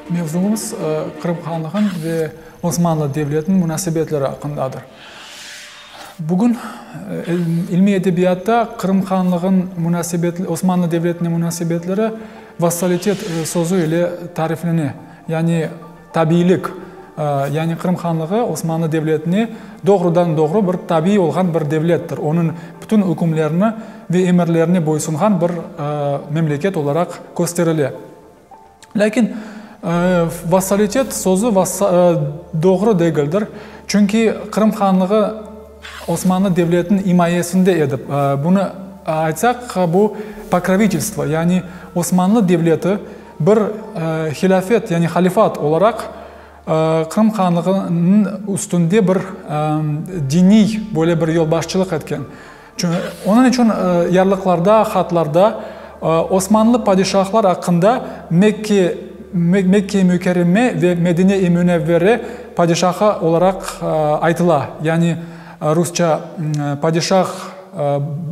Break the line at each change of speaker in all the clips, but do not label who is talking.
Mevzumız Qırım Hanlığı'nın ve Osmanlı Devleti'nin munasebetleri aqqındadır. Bugün ilmiy edebiyatta Qırım Hanlığı'nın munasebetleri, Osmanlı Devleti'nin munasebetleri vassalitet sözü ile tariflene. Yani. Tabiylik, yani Qırım Hanlığı Osmanlı Devletine doğrudan-doğru bir tabiy olğan bir devlettir, onıñ bütün ükümlerini ve emirlerine boysunğan bir memleket olaraq kösterile. Lâkin vassalitet sözü doğru degildir, çünki Qırım Hanlığı Osmanlı Devletiniñ imayesinde edi. Bunı aytsaq, bu pokrovitelstvo, yani Osmanlı Devleti, Bir hilâfet, yani halifat olaraq, Qırım Hanlığınıñ üstünde bir diniy böyle bir yolbaşçılıq etken. Onıñ içün yarlıqlarda, hatlarda Osmanlı padişahlar aqqında Mekke, Mekke-i Mükerreme ve Medine-i Münevvere padişahı olaraq aytıla, yani rusça, Padişah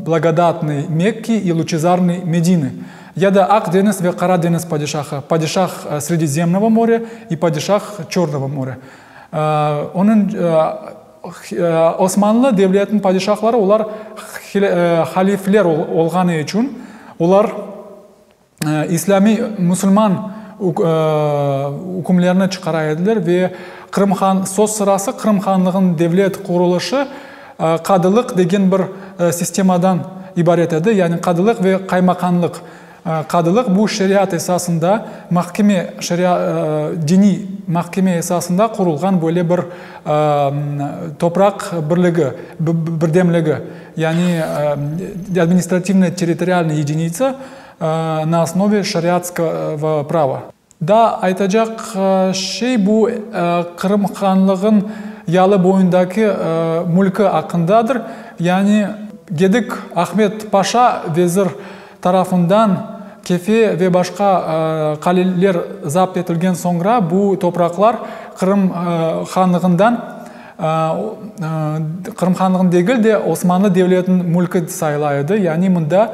Blagodatnıy Mekki i Luçezarnıy Medini. Ya da Aq deñiz ve Qara deñiz padişahı, Padişah Sredizemnovo more i Padişah Çornovo more. Onıñ Osmanlı devletiniñ padişahları olar halifler olğanı içün olar islâmiy, musulman ükümlerini çıqara ediler ve Qırım han, söz sırası Qırım hanlığınıñ devlet qurulışı, Qadılıq degen bir sistemadan ibaret edi, yani qadılıq ve qaymaqanlıq. Qadılıq bu şeriat esasında mahkeme, diniy mahkeme esasında qurulğan böyle bir topraq birligi, birdemligi, yani administrativnoy-territorialnoy yedinitsa na osnovei şeriatskovo prava. Daa aytacaq şey bu Qırım Hanlığın yalı boyundaki mülki aqqındadır, yani Gedik Ahmet Paşa vezir tarafından Kefe ve başqa qaleler zapt etilgen soñra bu topraqlar Qırım Hanlığından Qırım Hanlığın degil de Osmanlı devletiniñ mülki sayıla edi, yani mında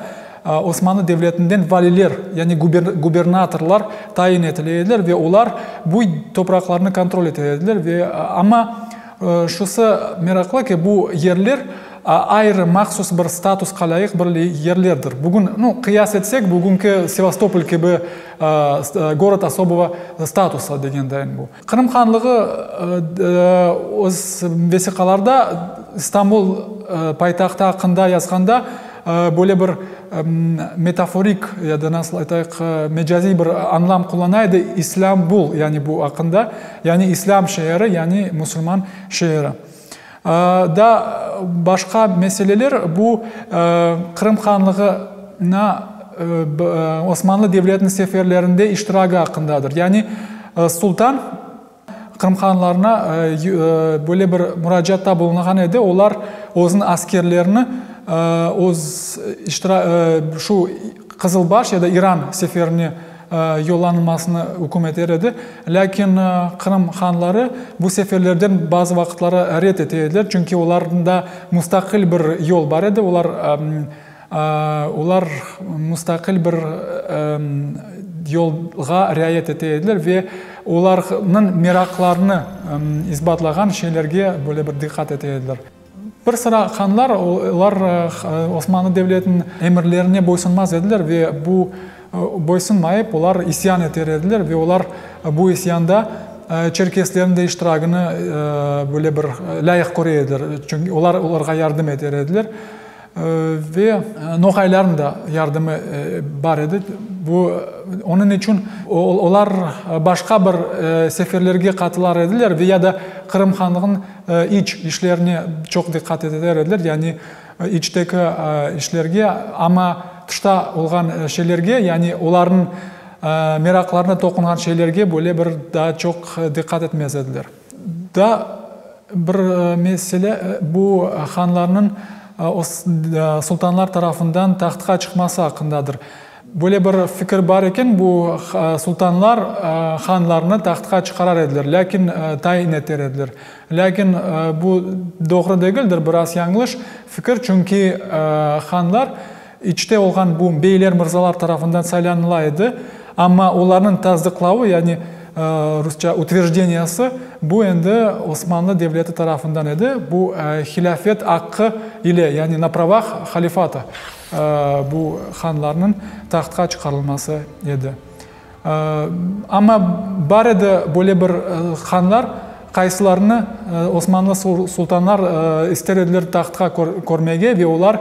Osmanlı devletinden valiler, yani gubernatorlar tayin etile ediler ve olar bu topraqlarnı kontrol ete ediler ve, amma şusı meraqlı ki, bu yerler ayrı mahsus bir statusqa lâyıq bir yerlerdir. Bugün, nu, qıyas etsek, bugünki Sevastopol kibi, gorod osobıga statusa degendeyim bu. Qırım Hanlığı öz vesiqalarda İstanbul paytahtı aqqında yazğanda böyle bir metaforik ya da nasıl aytayıq, mecaziy bir añlam qullana edi, İslâmbul, yani bu aqqında, yani İslâm şeeri, yani musulman şeeri. Da başqa meseleler, bu Qırım Hanlığına Osmanlı devletiniñ seferlerinde iştiragi aqqındadır. Yani Sultan Qırım Hanlarına böyle bir muracatta bulunğan edi, olar özüniñ askerlerini öz, şu Qızılbaş ya da İran seferine, yollanılmasını üküm eter edi, lâkin Qırım hanları bu seferlerden bazı vaqıtları red ete ediler, çünki olarnda mustaqil bir yol bar edi, olar olar mustaqil bir yolğa riayet ete ediler ve olarnıñ meraqlarını isbatlağan şeylerge böyle bir diqqat ete ediler. Bir sıra hanlar, olar Osmanlı devletiniñ emirlerine boysunmaz ediler ve bu boysunmayıp, olar isyan eter ediler ve olar bu isyanda çerkeslerniñ de iştiragini böyle bir lâyıq köre ediler, çünki olar olarğa yardım eter ediler. Ve noğaylarnıñ da yardımı bar edi. Bu, onıñ içün olar başqa bir seferlerge qatılar ediler ve ya da Qırım hanlığınıñ iç işlerine çoq diqqat eteler ediler, yani içteki işlerge. Amma tışta olğan şeylerge, yani olarnıñ meraqlarına toqunğan şeylerge böyle bir daa çoq diqqat etmez ediler. Daa bir mesele, bu hanlarnıñ sultanlar tarafından tahtqa çıqması aqqındadır. Böyle bir fikir bar eken, bu sultanlar hanlarnı tahtqa çıqarar ediler, lâkin tayin eter ediler. Lâkin bu doğru degildir, biraz yañlış fikir, çünki hanlar, İçte olğan bu beyler mırzalar tarafından saylanıla edi, amma olarnıñ tasdıqlavı, yani rusça utveždeniyası, bu endi Osmanlı devleti tarafından edi, bu hilâfet aqqı ile, yani na pravah halifata bu hanlarnıñ tahtqa çıqarılması edi. Amma bar edi böyle bir hanlar, qaysılarını osmanlı sultanlar ister ediler tahtqa körmege ve olar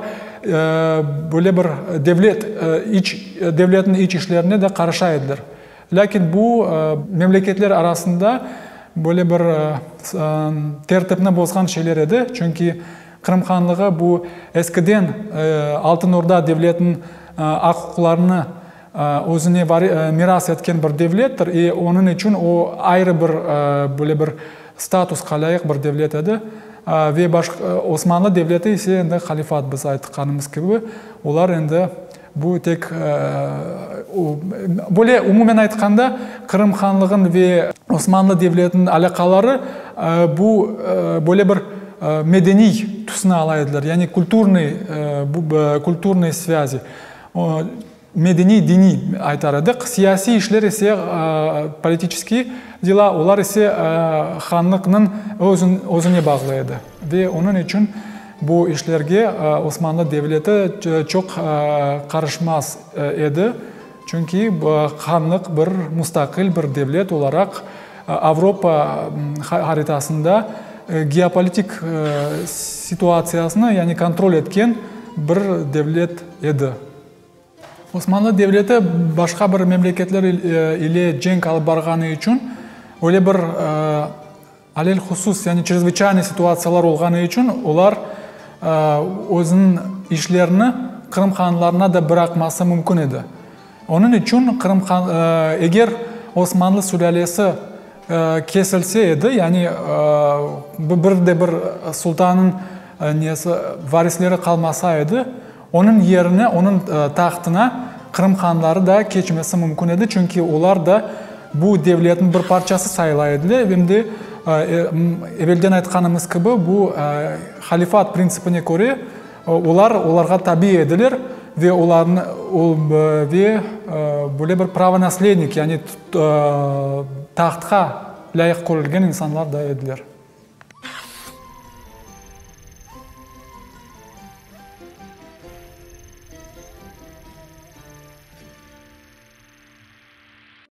böyle bir devlet, iç, devletniñ iç işlerine de qarışa ediler. Lâkin bu memleketler arasında böyle bir tertipni bozğan şeyler edi, çünki Qırım Hanlığı bu eskiden Altın Orda devletiniñ aq-uquqlarını Özüne miras etken bir devlettir, e, onıñ içün o, ayrı bir, böyle bir statuska lâyıq bir devlet edi. Ve Osmanlı Devleti ise endi halifat, biz aytqanımız kibi, olar endi bu tek, böyle umumen aytqanda, Qırım Hanlığınıñ ve Osmanlı Devletiniñ alâqaları bu, böyle bir medeniy tüsni ala ediler, yani kulturnıy, kulturnıy svâzi. Medeniy, diniy, aytar edik. Siyasiy işler ise, politiçeskiy dela, olar ise hanlıqnıñ özüne bağlı edi. Ve onıñ içün bu işlerge Osmanlı devleti çoq qarışmaz edi. Çünki hanlıq bir mustaqil bir devlet olaraq Avropa haritasında geopolitik situtsiyasını, yani kontrol etken bir devlet edi. Osmanlı Devleti başqa bir memleketler ile cenk alıp barğanı içün, öyle bir alelhusus, yani çrezvıçaynıy situtsiyalar olğanı içün olar özüniñ işlerini Qırım hanlarına da bıraqması mümkün edi. Onıñ içün Qırım han, eger Osmanlı sülâlesi kesilse edi, yani bir de bir sultanıñ nesi, varisleri qalmasa edi, onıñ yerine, onıñ tahtına Qırım hanları da keçmesi mümkün edi, çünki olar da bu devletniñ bir parçası sayıla ediler, em de evelden aytqanımız kibi, bu halifat prinsipine köre, Olar olarğa tabi ediler ve olarnı ve böyle bir pravonaslednik, yani tahtqa lâyıq körülgen insanlar da ediler.